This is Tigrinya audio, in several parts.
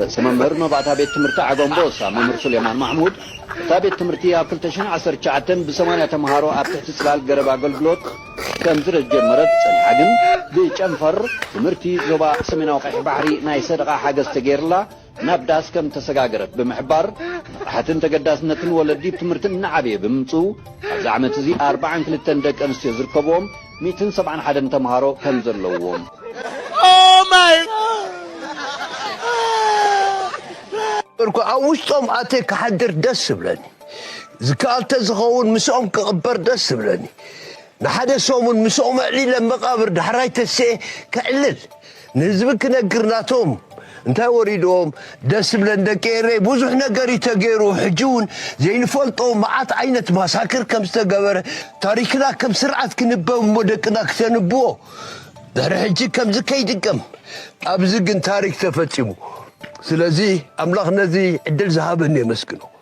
ርእሰ መምህር መባእታ ቤት ትምህርቲ ዓገምቦሳ መምህር ሱሌማን ማሕሙድ፣ እታ ቤት ትምህርቲ ኣብ ክልተ ሽሕን ዓሰርተ ትሽዓተን ብሰማንያ ተምሃሮ ኣብ ትሕቲ ጽላል ገረብ ኣገልግሎት ከምዝረጀመረት ጸኒሓ ግን ብጨንፈር ትምህርቲ ዞባ ሰሜናዊ ቀይሕ ባሕሪ ናይ ሰደቓ ሓገዝ ተገይርላ ናብ ዳስ ከምተሰጋገረት ብምሕባር፣ ንቕሓትን ተገዳስነትን ወለዲ ብ ትምህርቲ እናዓበየ ብምምጽኡ ኣብዚ ዓመት'ዚ ኣርብዓን ክልተን ደቂ ኣንስትዮ ዝርከብዎም ሚእትን ሰብዓን ሓደን ተምሃሮ ከም ዘለዉዎም። እምበርኳ ኣብ ውሽጦም ኣትየ ክሓድር ደስ እብለኒ። ዝከኣል ተዝኸውን ምስኦም ክቕበር ደስ እብለኒ። ንሓደ ሰሙን ምስኦም ኣዕሊለ መቓብር ዳሕራይ ተሲኤ ከዕልል። ንህዝቢ ክነግር ናቶም እንታይ ወሪድዎም ደስ ብለን ደቂ ኤረይ ብዙሕ ነገር እዩ ተገይሩ ሕጂ እውን ዘይንፈልጦ መዓት ዓይነት ማሳክር ከም ዝተገበረ ታሪክና ከም ስርዓት ክንበብ እሞ ደቅና ክተንብዎ ድሕሪ ሕጂ ከምዚ ከይድገም ኣብዚ ግን ታሪክ ተፈጺሙ ስለዚ ኣምላኽ ነዚ ዕድል ዝሃበኒ የመስግኖ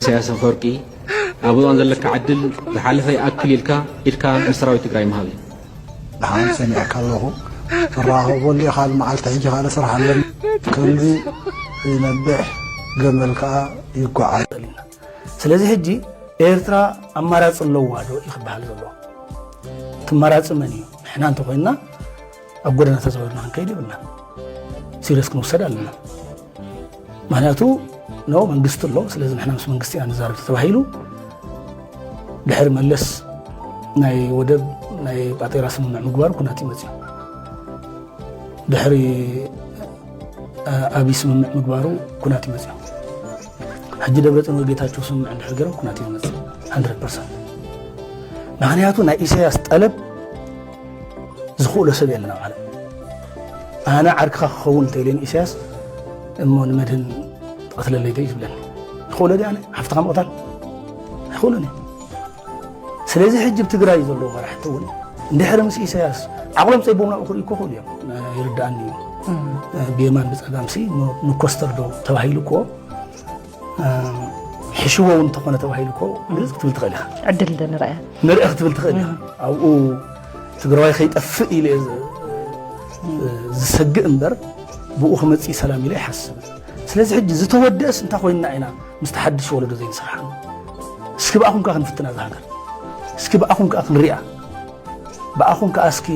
ኢሳያስ ኣፈወርቂ ኣብ እዋን ዘለካ ዕድል ዝሓለፈ ይኣክል ኢልካ ኢድካ ንሰራዊት ትግራይ ምሃብ እዩ። ደሓን ሰሚዐካ ኣለኹ ትራኸበሉ ኢኻ መዓልቲ ሕጂ ካልእ ስራሕ ኣለኒ ከልቢ ይነብሕ ገመል ከዓ ይጓዓዝ ስለዚ ሕጂ ኤርትራ ኣማራፂ ኣለዋ ዶ እዩ ክበሃል ዘሎ እቲ ኣማራፂ መን እዩ ንሕና እንተኾይንና ኣብ ጎደና ተዘበና ክንከይድ ይብልና ሲሪየስ ክንወሰድ ኣለና ምክንያቱ ኖ መንግስቲ ኣሎ ስለዚ ንሕና ምስ መንግስቲ ኢና ንዛረብ ተባሂሉ ድሕሪ መለስ ናይ ወደብ ናይ ጳጤራ ስምምዕ ምግባር ኩናት ይመፅዩ ድሕሪ ኣብይ ስምምዕ ምግባሩ ኩናት ይመፅዩ ሕጂ ደብረፅን ወይ ጌታቸው ስምምዕ እንድሕር ገይሮም ኩናት ይመፅእ 100 ፐርሰንት ምክንያቱ ናይ ኢሳያስ ጠለብ ዝኽእሎ ሰብ የለን ኣብ ዓለም ኣነ ዓርክኻ ክኸውን እንተኢለኒ ኢሳያስ እሞ ንመድህን ትቐትለለይ ዶ እዩ ዝብለኒ ይኽእሎ ዲ ኣነ ሓፍትኻ ምቕታል ኣይኽእሎን እዩ ስለዚ ሕጂ ብ ትግራይ ዘለዎ መራሕቲ እውን እንድሕሪ ምስ ኢሳያስ ዓቕሎም ፀይቦም ናብኡ ክርኢ ክኽእሉ እዮም ይርዳእኒ እዩ ብየማን ብፀጋምሲ ንኮስተር ዶ ተባሂሉ እኮ ሕሽዎ እውን እንተኾነ ተባሂሉ እኮ ግልፅ ክትብል ትኽእል ኢኻ ዕድል ንርአ ንርአ ክትብል ትኽእል ኢኻ ኣብኡ ትግራዋይ ከይጠፍእ ኢለ ዝሰግእ እምበር ብኡ ክመፅእ ሰላም ኢለ ይሓስብን ስለዚ ሕጂ ዝተወደእስ እንታይ ኮይንና ኢና ምስ ተሓድሽ ወለዶ ዘይንሰርሓ እስኪ ብኣኹም ከዓ ክንፍትና እዛ ሃገር እስኪ ብኣኹም ከዓ ክንሪኣ ብኣኹም ከዓ እስኪ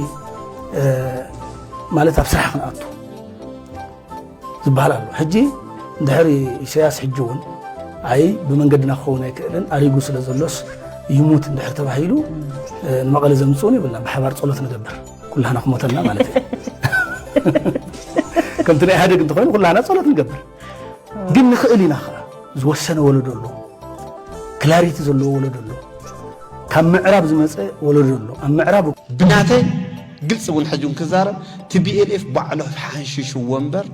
ማለት ኣብ ስራሕ ክንኣቱ ዝበሃል ኣሎ ሕጂ ድሕሪ ኢሰያስ ሕጂ እውን ኣይ ብመንገድና ክኸውን ኣይክእልን ኣሪጉ ስለ ዘሎስ ይሙት እንድሕር ተባሂሉ ንመቐለ ዘምፅኡን ይብልና ብሓባር ፀሎት ንገብር ኩላህና ክሞተና ማለት እዩ ከምቲ ናይ ኢህደግ እንተኮይኑ ኩላህና ፀሎት ንገብር ግን ንኽእል ኢና ከዓ ዝወሰነ ወለዶ ኣሎ ክላሪቲ ዘለዎ ወለዶ ኣሎ ካብ ምዕራብ ዝመጸ ወለዶ ኣሎ ኣብ ምዕራብ። ብናተይ ግልፂ እውን ሕጂ እውን ክዛረብ ቲቢኤልኤፍ ባዕሉ ሓንሽሽዎ እምበር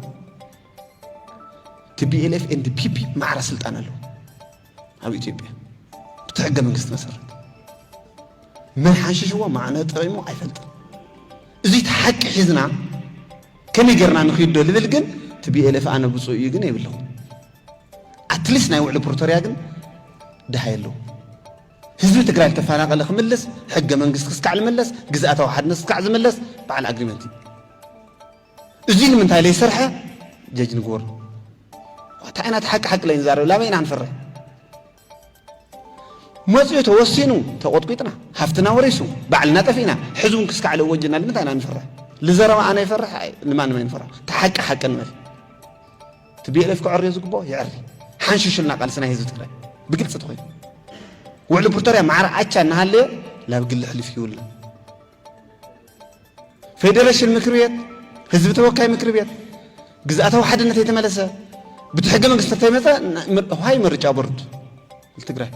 ቲቢኤልኤፍ ኤንድ ፒፒ ማዕረ ስልጣን ኣለዎ ኣብ ኢትዮጵያ ብቲ ሕገ መንግስቲ መሰረት መን ሓንሽሽዎ ማዕነ ጥሪሙ ኣይፈልጥን እዚ እቲ ሓቂ ሒዝና ከመይ ጌርና ንኽይዶ ልብል ግን ቲቢኤልኤፍ ኣነ ብፁእ እዩ ግን የብለኹም ኣትሊስት ናይ ውዕሊ ፕሪቶርያ ግን ድሃይ ኣለዎ። ህዝቢ ትግራይ ዝተፈናቐለ ክምለስ፣ ሕገ መንግስቲ ክስካዕ ዝመለስ፣ ግዝኣታዊ ሓድነት ክስካዕ ዝመለስ በዓል ኣግሪመንት እዩ። እዙይ ንምንታይ ለይሰርሐ ጀጅ ንግበር እንታይ ኢና ሓቂ ሓቂ ለይንዛረብ ላበይ ኢና ንፈርሕ? መፅኡ ተወሲኑ ተቖጥቂጥና ሃፍትና ወሪሱ ባዕልና ጠፊእና ሕዚ እውን ክስካዕ ለወጅና ንምንታይ ኢና ንፈርሕ? ልዘረባ ኣነ ይፈርሕ ንማንም ኣይንፈርሕ። ተሓቂ ሓቂ ንበል። ቲቢኤልኤፍ ከዐርዮ ዝግብኦ የዐሪ ሓንሹሹልና ቃልሲ ናይ ህዝቢ ትግራይ ብግልፂ ተኮይኑ ውዕሊ ፕሪቶርያ ማዕረ ኣቻ እናሃለየ ናብ ግሊ ሕልፍ ይውልና ፌዴሬሽን ምክር ቤት ህዝቢ ተወካይ ምክር ቤት ግዝኣታዊ ሓድነት የተመለሰ ብቲ ሕገ መንግስቲ ተይመፀ ዋይ ምርጫ ቦርድ ትግራይ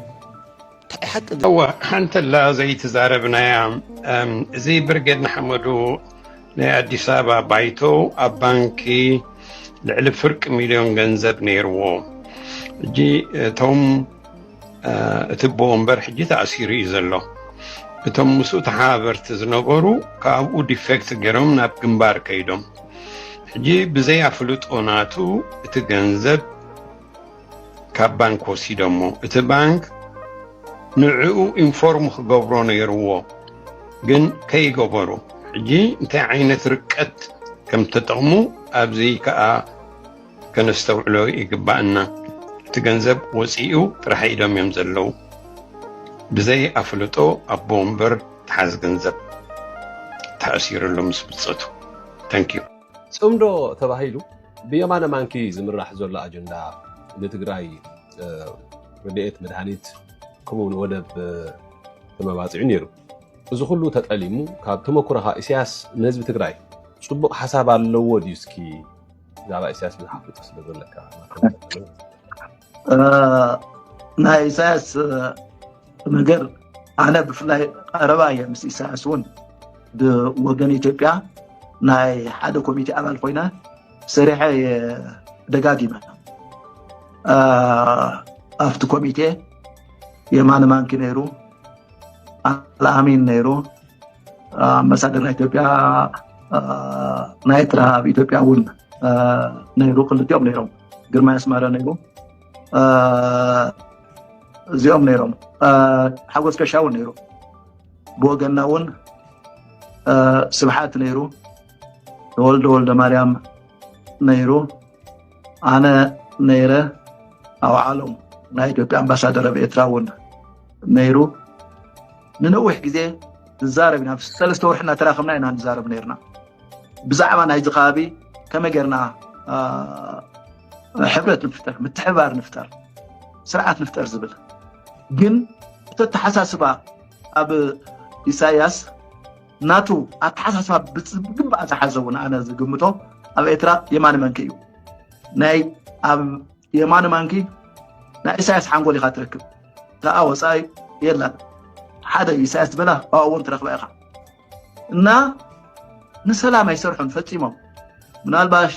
እዋ ሓንተላ ዘይትዛረብናያ እዚ ብርጌድ ንሓመዱ ናይ ኣዲስ ኣበባ ባይቶ ኣብ ባንኪ ልዕሊ ፍርቂ ሚልዮን ገንዘብ ነይርዎ ሕጂ እቶም እቲ ኣቦ ወንበር ሕጂ ተኣሲሩ እዩ ዘሎ እቶም ምስኡ ተሓባበርቲ ዝነበሩ ካብኡ ዲፌክት ገይሮም ናብ ግንባር ከይዶም ሕጂ ብዘይ ኣፍልጦ ናቱ እቲ ገንዘብ ካብ ባንክ ወሲዶሞ እቲ ባንክ ንዕኡ ኢንፎርም ክገብሮ ነይርዎ ግን ከይገበሩ ሕጂ እንታይ ዓይነት ርቀት ከም ተጠቕሙ ኣብዚ ከዓ ከነስተውዕሎ ይግባእና እቲ ገንዘብ ወፂኡ ጥራሕ ኢዶም እዮም ዘለው ብዘይ ኣፍልጦ ኣቦ ወንበር ተሓዝ ገንዘብ ተኣሲርሉ ምስ ብፀቱ ተንኪዩ ፅምዶ ተባሂሉ ብየማነ ማንኪ ዝምራሕ ዘሎ ኣጀንዳ ንትግራይ ርድኤት መድሃኒት ከምኡ ውን ወደብ ተመባፂዑ ነይሩ። እዚ ኩሉ ተጠሊሙ ካብ ተመኩሮኻ ኢሳያስ ንህዝቢ ትግራይ ፅቡቅ ሓሳብ ኣለዎ ድዩ እስኪ ብዛዕባ ኢሳያስ ብዙሕ ኣፍልጦ ስለ ዘለካ ናይ ኢሳያስ ነገር ኣነ ብፍላይ ቀረባ እየ ምስ ኢሳያስ እውን ብወገን ኢትዮጵያ ናይ ሓደ ኮሚቴ ኣባል ኮይነ ሰሪሐ እየ ደጋጊመ ኣብቲ ኮሚቴ የማነ ማንኪ ነይሩ ኣልኣሚን ነይሩ ኣምባሳደር ናይ ኢትዮጵያ ናይ ኤርትራ ኣብ ኢትዮጵያ እውን ነይሩ ክልቲኦም ነይሮም ግርማይ ኣስመረ ነይሩ እዚኦም ነይሮም ሓጎስ ከሻ እውን ነይሩ ብወገና እውን ስብሓት ነይሩ ተወልደ ወልደ ማርያም ነይሩ ኣነ ነይረ ኣብ ዓሎም ናይ ኢትዮጵያ ኣምባሳደር ኣብ ኤርትራ እውን ነይሩ ንነዊሕ ግዜ ንዛረብ ኢና ሰለስተ ወርሒ እናተራከብና ኢና ንዛረብ ነርና ብዛዕባ ናይዚ ከባቢ ከመይ ጌርና ሕብረት ንፍጠር ምትሕባር ንፍጠር ስርዓት ንፍጠር ዝብል ግን እቲ ኣተሓሳስባ ኣብ ኢሳያስ ናቱ ኣተሓሳስባ ብግባእ ዝሓዘ እውን ኣነ ዝግምቶ ኣብ ኤርትራ የማኒ መንኪ እዩ ናይ ኣብ የማኒ መንኪ ናይ ኢሳያስ ሓንጎል ኢካ ትረክብ እታ ወፃኢ የላን ሓደ ኢሳያስ ዝበላ ኣብኡ እውን ትረክባ ኢካ እና ንሰላም ኣይሰርሑን ፈፂሞም ምናልባሽ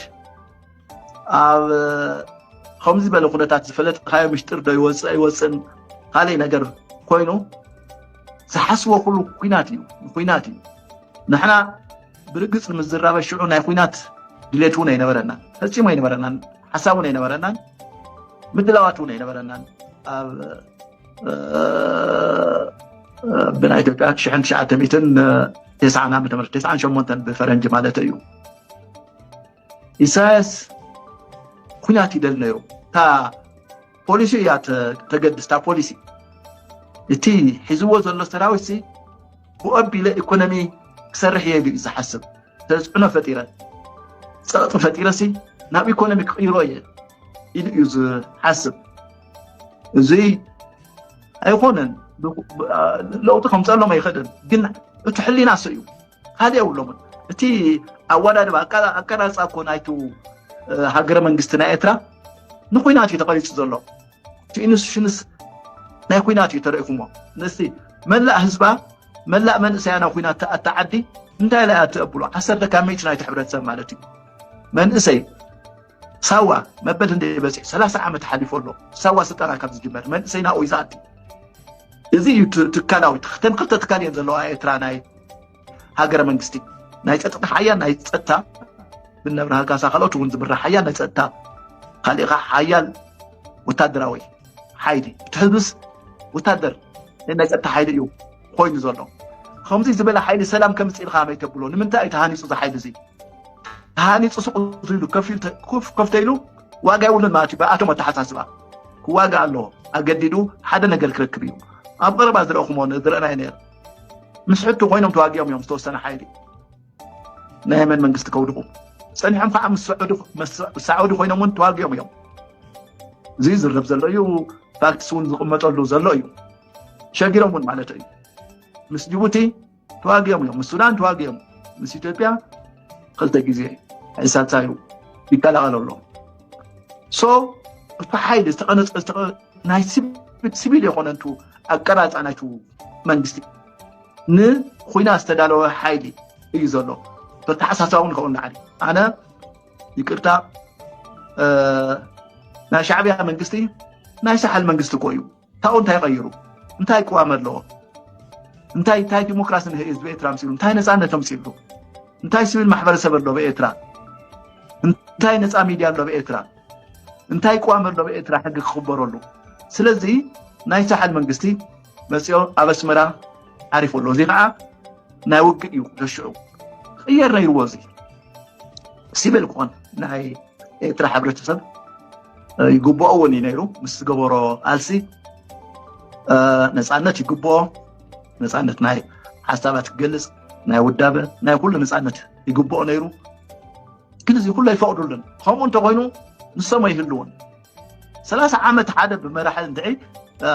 ኣብ ከምዚ ዝበለ ኩነታት ዝፈለጥካዮ ምሽጢር ዶ ይወፅእ ኣይወፅእን ካልእ ነገር ኮይኑ ዝሓስቦ ኩሉ ኩናት እዩ ኩናት እዩ ንሕና ብርግፅ ንምዝራበ ሽዑ ናይ ኩናት ድሌት እውን ኣይነበረና ፈፂሙ ኣይነበረናን ሓሳብ እውን ኣይነበረናን ምድላዋት እውን ኣይነበረናን ኣብ ብናይ ኢትዮጵያ ሽሕን ትሽዓተ ሚትን ተስዓን ዓመተ ምህረት ተስዓን ሸሞንተን ብፈረንጂ ማለት እዩ ኢሳያስ ኩናት ይደል ነይሩ እታ ፖሊሲ እያ ተገድስ እታ ፖሊሲ እቲ ሒዝዎ ዘሎ ሰራዊት ሲ ብኦቢለ ኢኮኖሚ ክሰርሕ እየ ኢሉ እዩ ዝሓስብ ተፅዕኖ ፈጢረ ፀቕጢ ፈጢረ ሲ ናብ ኢኮኖሚ ክቕይሮ እየ ኢሉ እዩ ዝሓስብ እዚ ኣይኮነን ለውጢ ከምፀሎም ኣይክእልን ግን እቲ ሕሊና ሰ እዩ ካልእ የብሎምን እቲ ኣወዳድባ ኣቀራርፃ እኮ ናይቲ ሃገረ መንግስቲ ናይ ኤርትራ ንኩናት እዩ ተቐሪፁ ዘሎ እቲ ኢንስቲቱሽንስ ናይ ኩናት እዩ ተረኢኹሞ ንስቲ መላእ ህዝባ መላእ መንእሰያ ናብ ኩናት ተኣቲ ዓዲ እንታይ ላይ ኣትኣብሉ ዓሰርተ ካብ ሚእቲ ናይቲ ሕብረተሰብ ማለት እዩ መንእሰይ ሳዋ መበል ህንደይ በፂሑ ሰላሳ ዓመት ሓሊፎ ኣሎ ሳዋ ስልጠና ካብ ዝጅመር መንእሰይ ናብኡ እዩ ዝኣቲ እዚ እዩ ትካላዊ ተን ክልተ ትካል እየን ዘለዋ ኤርትራ ናይ ሃገረ መንግስቲ ናይ ፀጥታ ሓያ ናይ ፀጥታ ብነብርሃ ካሳ ካልኦት እውን ዝምራሕ ሓያ ናይ ፀጥታ ካሊእ ከዓ ሓያል ወታደራዊ ሓይሊ እቲ ህዝብስ ወታደር ናይ ፀጥታ ሓይሊ እዩ ኮይኑ ዘሎ ከምዚ ዝበለ ሓይሊ ሰላም ከምፅ ኢልካ ከመይ ተብሎ ንምንታይ እዩ ተሃኒፁ እዚ ሓይሊ እዚ ተሃኒፁ ሱቅ ኢሉ ከፍተ ኢሉ ዋጋ የብሉን ማለት እዩ ብኣቶም ኣተሓሳስባ ክዋጋ ኣለዎ ኣገዲዱ ሓደ ነገር ክረክብ እዩ ኣብ ቀረባ ዝረእኹሞ ዝረእናይ ነር ምስ ሕቱ ኮይኖም ተዋጊኦም እዮም ዝተወሰነ ሓይሊ ናይ የመን መንግስቲ ከውድቁ ፀኒሖም ከዓ ምስ ሳዑዲ ኮይኖም እውን ተዋጊኦም እዮም እዚ ዝርብ ዘሎ እዩ ፋክትስ እውን ዝቕመጠሉ ዘሎ እዩ ሸጊሮም እውን ማለት እዩ ምስ ጅቡቲ ተዋጊኦም እዮም ምስ ሱዳን ተዋጊኦም ምስ ኢትዮጵያ ክልተ ግዜ ሕሳታዩ ይቀላቀል ኣሎ ሶ እቲ ሓይሊ ናይ ሲቪል የኮነ ንቱ ኣቀራፃ ናይቱ መንግስቲ ንኩና ዝተዳለወ ሓይሊ እዩ ዘሎ በተሓሳሳብ እውን ከውን ንዓሊ ኣነ ይቅርታ ናይ ሻዕብያ መንግስቲ ናይ ሳሓል መንግስቲ እኮ እዩ ካብኡ እንታይ ቀይሩ እንታይ ቅዋም ኣለዎ እንታይ እንታይ ዲሞክራሲ ንህዝቢ ኤርትራ ምፅሉ እንታይ ነፃነት ምፅሉ እንታይ ስብል ማሕበረሰብ ኣሎ ብኤርትራ እንታይ ነፃ ሚድያ ኣሎ ብኤርትራ እንታይ ቅዋም ኣሎ ብኤርትራ ሕጊ ክኽበረሉ ስለዚ ናይ ሳሕል መንግስቲ መፅኦ ኣብ ኣስመራ ዓሪፉ ኣሎ እዚ ከዓ ናይ ውግእ እዩ ደሽዑ ክቅየር ነይርዎ እዚ ሲቪል ክኾን ናይ ኤርትራ ሕብረተሰብ ይግብኦ እውን እዩ ነይሩ ምስ ዝገበሮ ቃልሲ ነፃነት ይግብኦ ነፃነት ናይ ሓሳባት ክገልፅ ናይ ውዳበ ናይ ኩሉ ነፃነት ይግብኦ ነይሩ ግን እዚ ኩሉ ኣይፈቅዱሉን ከምኡ እንተኮይኑ ንሶም ኣይህልውን ሰላሳ ዓመት ሓደ ብመራሒ እንድዒ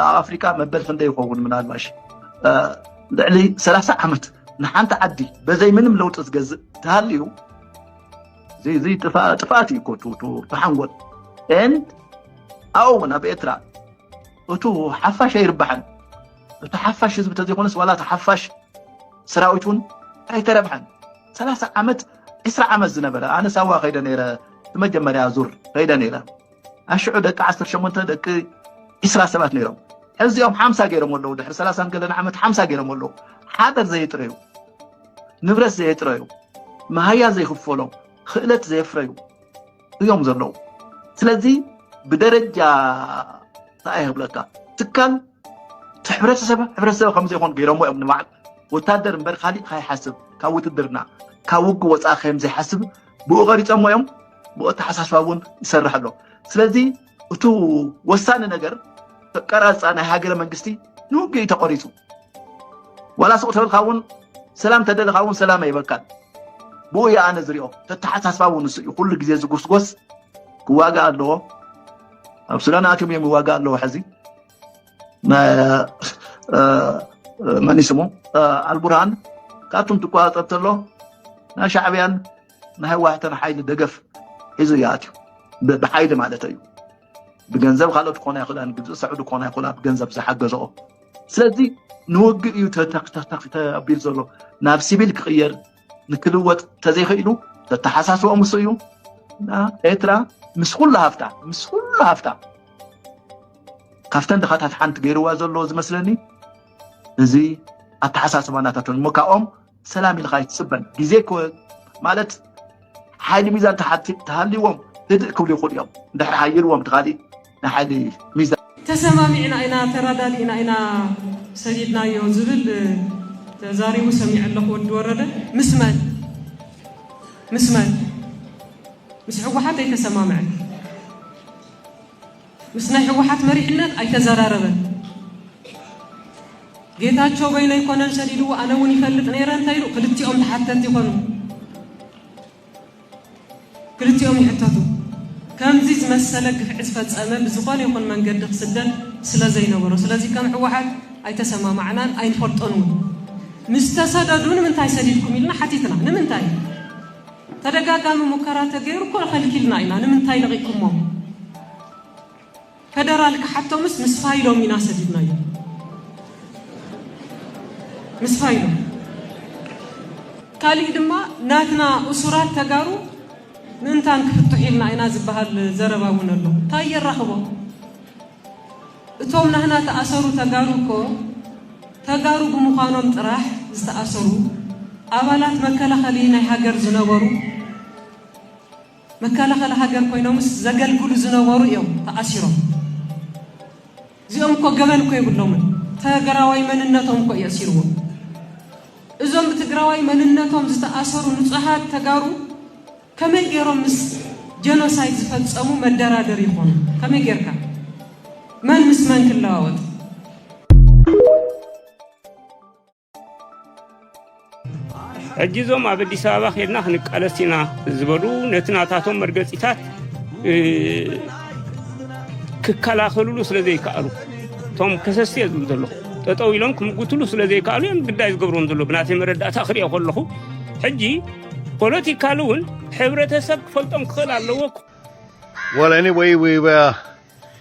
ኣብ ኣፍሪካ መበል ክንደይ ይኸውን ምናልባሽ ልዕሊ ሰላሳ ዓመት ንሓንቲ ዓዲ በዘይ ምንም ለውጢ ዝገዝእ ተሃልዩ ዘይ ጥፍኣት እዩ ኮቱ ተሓንጎል ን ኣብኡ እውን ኣብ ኤርትራ እቱ ሓፋሽ ኣይርባሕን እቲ ሓፋሽ ህዝቢ ተዘይኮነስ ዋላ እቲ ሓፋሽ ሰራዊት እውን ኣይተረብሐን ሰላሳ ዓመት ዕስራ ዓመት ዝነበረ ኣነ ሳዋ ከይደ ነይረ ንመጀመርያ ዙር ከይደ ነይረ ኣሽዑ ደቂ ዓሰርተ ሸሞንተ ደቂ ዒስራ ሰባት ነይሮም ሕዚ ኦም ሓምሳ ገይሮም ኣለዉ ድሕሪ ሰላሳን ገለን ዓመት ሓምሳ ገይሮም ኣለዉ ሓደር ዘየጥረዩ ንብረት ዘየጥረዩ መሃያ ዘይክፈሎም ክእለት ዘየፍረዩ እዮም ዘለዉ ስለዚ ብደረጃ እንታይ ይህብለካ ትካል ሕብረተሰብ ሕብረተሰብ ከምዘይኮን ገይሮሞ እዮም ንባዕል ወታደር እምበር ካሊእ ካይሓስብ ካብ ውትድርና ካብ ውግ ወፃኢ ከምዘይሓስብ ብኡ ቀሪፀሞ እዮም ብኡ ኣተሓሳስባ እውን ይሰርሕ ኣሎ ስለዚ እቲ ወሳኒ ነገር ቀራፃ ናይ ሃገረ መንግስቲ ንውግእ ተቆሪፁ ዋላ ሱቅ ተበልካ እውን ሰላም ተደለካ እውን ሰላም ኣይበካን ብኡ እየ ኣነ ዝሪኦ ተተሓሳስባ እውን ንሱ እዩ ኩሉ ግዜ ዝጉስጎስ ክዋጋእ ኣለዎ ኣብ ሱዳን ኣትዮም እዮም ይዋጋእ ኣለዎ ሕዚ መን ስሙ ኣልቡርሃን ካብቶም ትቆፃፀር ተሎ ናይ ሻዕብያን ናይ ህወሓትን ሓይሊ ደገፍ ሒዙ እዩ ኣትዩ ብሓይሊ ማለት እዩ ብገንዘብ ካልኦት ክኾና ይኽእላ ግብፂ ሰዑዲ ክኾና ይኽእላ ብገንዘብ ዝሓገዘኦ ስለዚ ንውግእ እዩ ተቢሉ ዘሎ ናብ ሲቪል ክቅየር ንክልወጥ ተዘይክኢሉ ዘተሓሳስቦ ምስ እዩ እና ኤርትራ ምስ ኩሉ ሃፍታ ምስ ኩሉ ሃፍታ ካብተን ድኻታት ሓንቲ ገይርዋ ዘሎ ዝመስለኒ እዚ ኣተሓሳስባ ናታቶም እሞ ካብኦም ሰላም ኢልካ ኣይትፅበን ግዜ ማለት ሓይሊ ሚዛን ተሃልይዎም ህድእ ክብሉ ይኽእሉ እዮም ድሕሪ ሓይልዎም ትካሊእ ንሓደ ሚዛን። ተሰማሚዕና ኢና ተራዳዲእና ኢና ሰዲድናዮ ዝብል ተዛሪቡ ሰሚዐ ኣለኹ ወዲ ወረደ ምስ መን ምስ መን ምስ ሕወሓት ኣይተሰማምዐ ምስ ናይ ሕወሓት መሪሕነት ኣይተዘራረበን ጌታቸው በይኑ ኣይኮነን ሰዲድዎ ኣነ እውን ይፈልጥ ነይረ እንታይ ኢሉ ክልቲኦም ተሓተቲ ይኾኑ ክልቲኦም ይሕተቱ። ከምዚ ዝመሰለ ግፍዒ ዝፈጸመ ብዝኾነ ይኹን መንገዲ ክስደድ ስለዘይነበሮ። ስለዚ ከም ህወሓት ኣይተሰማማዕናን ኣይንፈልጦን እውን። ምስ ተሰደዱ ንምንታይ ሰዲድኩም ኢልና ሓቲትና። ንምንታይ? ተደጋጋሚ ሙከራ ተገይሩ እኮ ከልኪልና ኢና። ንምንታይ ለቒኩሞም? ፈደራል ክሓቶምስ ምስ ፋይሎም ኢና ሰዲድናዮም ምስ ፋይሎም ካሊእ ድማ ናትና እሱራት ተጋሩ ምእንታን ክፍትሑ ኢልና ኢና ዝበሃል ዘረባ እውን ኣሎ እንታይ የራኽቦ እቶም ናህና ተኣሰሩ ተጋሩ እኮ ተጋሩ ብምዃኖም ጥራሕ ዝተኣሰሩ ኣባላት መከላኸሊ ናይ ሃገር ዝነበሩ መከላኸሊ ሃገር ኮይኖምስ ዘገልግሉ ዝነበሩ እዮም ተኣሲሮም እዚኦም እኮ ገበን እኮ የብሎምን ተግራዋይ መንነቶም እኮ እዩ ኣሲርዎም እዞም ብትግራዋይ መንነቶም ዝተኣሰሩ ንፁሃት ተጋሩ ከመይ ገይሮም ምስ ጀኖሳይድ ዝፈፀሙ መደራደር ይኾኑ ከመይ ጌርካ መን ምስ መን ክለዋወጥ ሕጂ እዞም ኣብ ኣዲስ ኣበባ ከድና ክንቃለስ ኢና ዝበሉ ነቲ ናታቶም መርገፂታት ክከላኸልሉ ስለ ዘይከኣሉ እቶም ከሰሲ እየ ዝብል ዘለኹ ጠጠው ኢሎም ክምጉትሉ ስለ ዘይከኣሉ እዮም ግዳይ ዝገብርዎም ዘሎ ብናተይ መረዳእታ ክሪኦ ከለኹ ሕጂ ፖለቲካል እውን ሕብረተሰብ ክፈልጦም ክኽእል ኣለዎ Well, anyway, we were